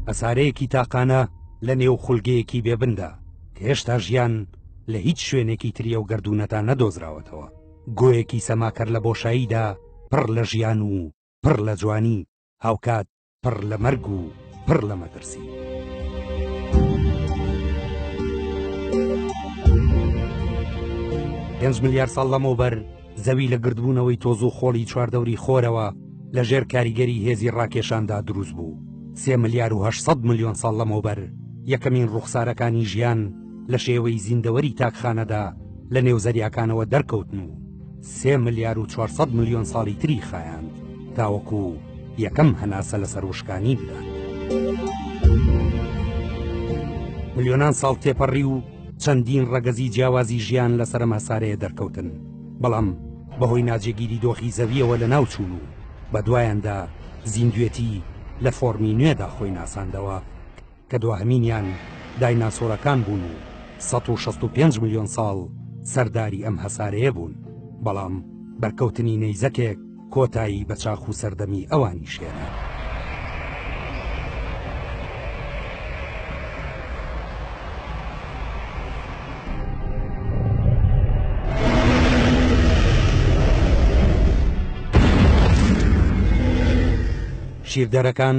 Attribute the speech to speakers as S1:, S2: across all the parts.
S1: هەسارەیەکی تاقانە لە نێو خولگەیەکی بێبندا کە هێشتا ژیان لە هیچ شوێنێکی تریە و گردردونەتا نەدۆزراوەتەوە گۆیەکی سەماکەر لە بۆشاییدا پڕ لە ژیان و پڕ لە جوانی هاوکات پڕ لە مەرگ و پڕ لە مەترسی. پێنج ملیار ساڵ لەمەوبەر زەوی لە گردبوونەوەی تۆز و خۆڵی چواردەوری خۆرەوە لە ژێر کاریگەری هێزی ڕاکێشاندا دروست بوو سێ ملیار و 800 ملیۆن ساڵ لەمەوبەر یەکەمین ڕوخسارەکانی ژیان لە شێوەی زیندەوەری تاکخانەدا لە نێو زەریاکانەوە دەرکەوتن و سێ ملیار و 400 ملیۆن ساڵی تری خایاند تاوەکو یەکەم هەناسە لەسەر وشکانی بدات ملیۆنان ساڵ تێپەڕی و چەندین ڕەگەزی جیاوازی ژیان لەسەرم هەسارەیە دەرکەوتن بەڵام بەهۆی ناجێگیری دۆخی زەویەوە لە ناوچوون و بە دوایاندا زیندوێتی لە فۆرمی نوێدا خۆی ناساندەوە کە دواهمینیان دایناسۆرەکان بوون و 1665 میلیۆن ساڵ سەرداری ئەم هەسارەیە بوون بەڵام بەرکەوتنی نەیزەکێک کۆتایی بە چاخ و سەردەمی ئەوانیش هێنا. شیردەرەکان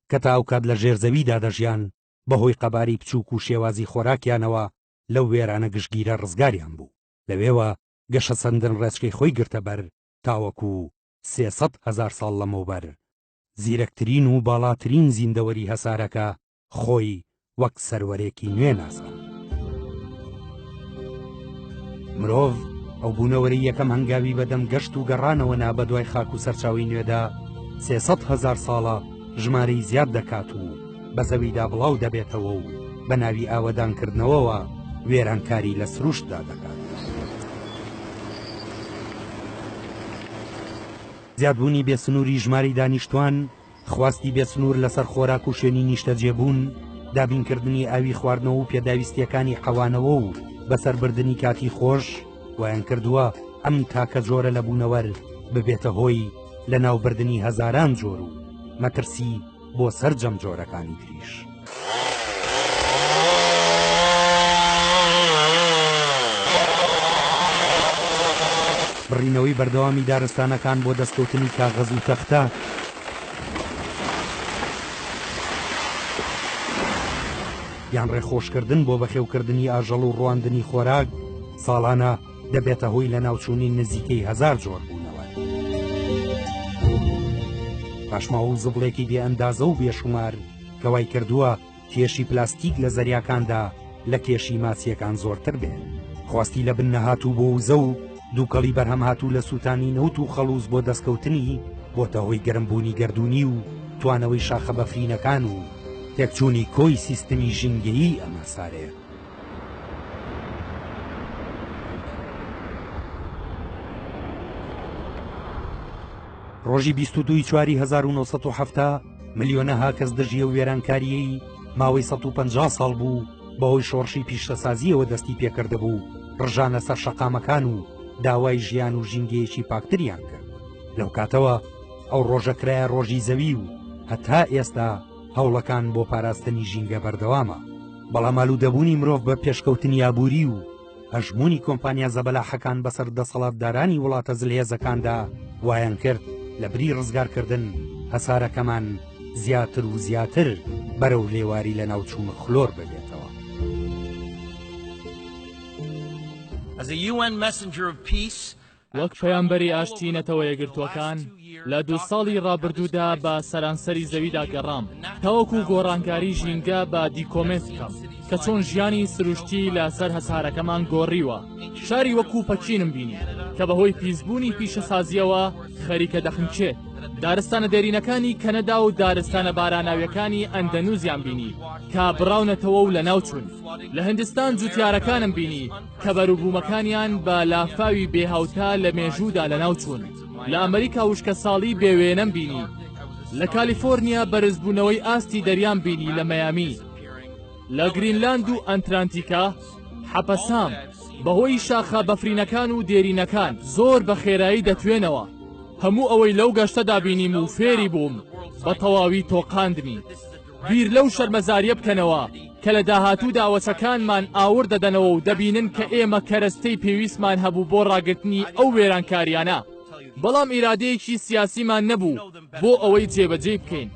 S1: کە تاوکات لە ژێر زەویدا دەژیان بەهۆی قەباری بچووک و شێوازی خۆراکیانەوە لەو وێرانە گشتگیرە ڕزگاریان بوو لەوێوە گەشە سەندن ڕێچکەی خۆی گرتە بەر تاوەکو سێ سەد هەزار ساڵ لەمەوبەر، زیرەکترین و باڵاترین زیندەوەری هەسارەکە خۆی وەک سەروەرێکی نوێ ناساند. مرۆڤ، ئەو بوونەوەرەی یەکەم هەنگاوی بەدەم گەشت و گەڕانەوە نا بەدوای خاک و سەرچاوی نوێدا، سێ سەد هەزار ساڵە ژمارەی زیاد دەکات و، بە زەویدا بڵاو دەبێتەوە و بە ناوی ئاوەدانکردنەوەوە وێرانکاری لە سروشتدا دەکات. زیادبوونی بێسنووری ژماری دانیشتوان خواستی بێسنوور لەسەر خۆراک و شوێنی نیشتەجێبوون دابینکردنی ئاوی خواردنەوە و پێداویستیەکانی حەوانەوە و بەسەربردننی کاتی خۆش ویان کردووە ئەم تاکە جۆرە لە بوونەوەر ببێتە هۆی لە ناوبردنی هەزاران جۆر و مەترسی بۆ سەرجەم جۆرەکانی تریش. بڕینەوەی بەردەوامی دارستانەکان بۆ دەستکەوتنی کاغەز و تەختە یان ڕێخۆشکردن بۆ بەخێوکردنی ئاژەڵ و ڕواندنی خۆراک ساڵانە دەبێتە هۆی لە ناوچوونی نزیکەی هزار جۆر بوونەوە پاشماوە و زبڵێکی بێ ئەندازە و بێشومار کەوای کردووە کێشی پلاستیک لە زەریاکاندا لە کێشی ماسیەکان زۆرتر بێت خواستی لە بن نەهاتوو بۆ وزە و دووکەڵی بەرهەم هاتوو لە سووتانی نەوت و خەڵوز بۆ دەستکەوتنی بۆتە هۆی گەرمبوونی گردردونی و توانەوەی شاخە بەفرینەکان و تێکچوونی کۆی سیستمی ژینگەیی ئەمە سارەیە ڕۆژی بیست و دووی چواری هەزار و نۆ سەد و حەفتا ملیۆنەها کەس دژی ئەو وێرانکارییەی ماوەی سەد و پەنجا ساڵ بوو بەهۆی شۆڕشی پیشەسازییەوە دەستی پێکردبوو ڕژانە سەر شەقامەکان و داوای ژیان و ژینگەیەکی پاکتریان کرد لەو کاتەوە ئەو ڕۆژە کرایە ڕۆژی زەوی و هەتا ئێستا هەوڵەکان بۆ پاراستنی ژینگە بەردەوامە بەڵام ئالوودەبوونی مرۆڤ بە پێشکەوتنی ئابووری و هەژمونی کۆمپانیا زەبەلاحەکان بەسەر دەسەڵاتدارانی وڵاتە زلهێزەکاندا وایان کرد لە بری ڕزگارکردن هەسارەکەمان زیاتر و زیاتر بەرەو لێواری لە ناوچوون خلۆر ببێتەوە.
S2: As a UN messenger of peace, وەک پەیامبەری ئاشتی نەتەوە یەکگرتووەکان لە دوو ساڵی ڕابردوودا بە سەرانسەری زەویدا گەڕام تاوەکو گۆڕانکاری ژینگە بە دیکۆمێنت بکەم کە چۆن ژیانی سروشتی لەسەر هەسارەکەمان گۆڕیوە شاری وەکو پەکینم بینی کە بەهۆی پیسبوونی پیشەسازیەوە خەریکە دەخنچێت دارستانە دێرینەکانی کەنەدا و دارستانە باراناویەکانی ئەندەنوزیان بینی کا بڕاونەتەوە و لە ناوچون لە هندستان جوتیارەکانم بینی کە بەروبوومەکانیان بە لافاوی بێ هاوتا لە مێژوودا لەناو چوون لە ئەمریکا وشکەساڵی بێ وێنەم بینی لە کالیفۆرنیا بەرزبوونەوەی ئاستی دەریان بینی لە مەیامی لە گرینلاند و ئەنترانتیکا حەپەسام بەهۆی شاخە بەفرینەکان و دێرینەکان زۆر بە خێرایی دەتوێنەوە هەموو ئەوەی لەو گەشتەدا بینیم و فێری بووم بە تەواوی تۆقاندنی بیر لەو شەرمەزاریە بکەنەوە کە لە داهاتوودا وەچەکانمان ئاوڕ دەدەنەوە و دەبینن کە ئێمە کەرەستەی پێویستمان هەبوو بۆ ڕاگرتنی ئەو وێرانکاریانە بەڵام ئیرادەیەکی سیاسیمان نەبوو بۆ ئەوەی جێبەجێی بکەین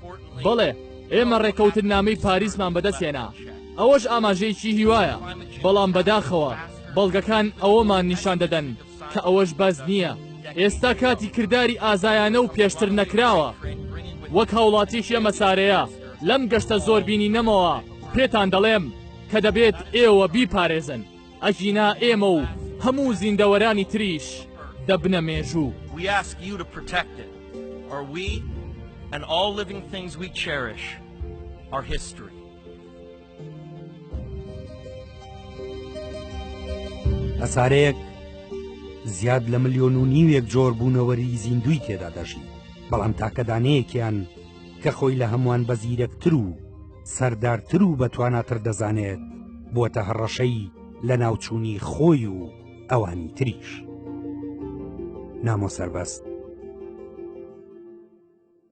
S2: بەڵێ ئێمە ڕێکەوتنامەی پاریسمان بەدەستێنا ئەوەش ئاماژەیەکی هیوایە بەڵام بەداخەوە بەڵگەکان ئەوەمان نیشان دەدەن کە ئەوەش بەس نییە ئێستا کاتی کرداری ئازایانە و پێشتر نەکراوە وەک هاوڵاتیش ئەمە سارەیە لەم گەشتە زۆر بینی نەمەوە پێتان دەڵێم کە دەبێت ئێوە بیپارێزن ئەژینا ئێمە و هەموو زیندەوەرانی تریش دەبنە مێژوو Are
S3: we and all living things we cherish our history.
S1: هەسارەیەک زیاد لە ملیۆن و نیوێک جۆر بوونەوەری زیندوی تێدا دەژی بەڵام تاکە دانەیەکیان کە خۆی لە هەمووان بە زیرەکتر و سەردارتر و بەتواناتر دەزانێت بۆتە هەڕەشەی لە ناوچوونی خۆی و ئەوانی تریش نامۆ سەربەست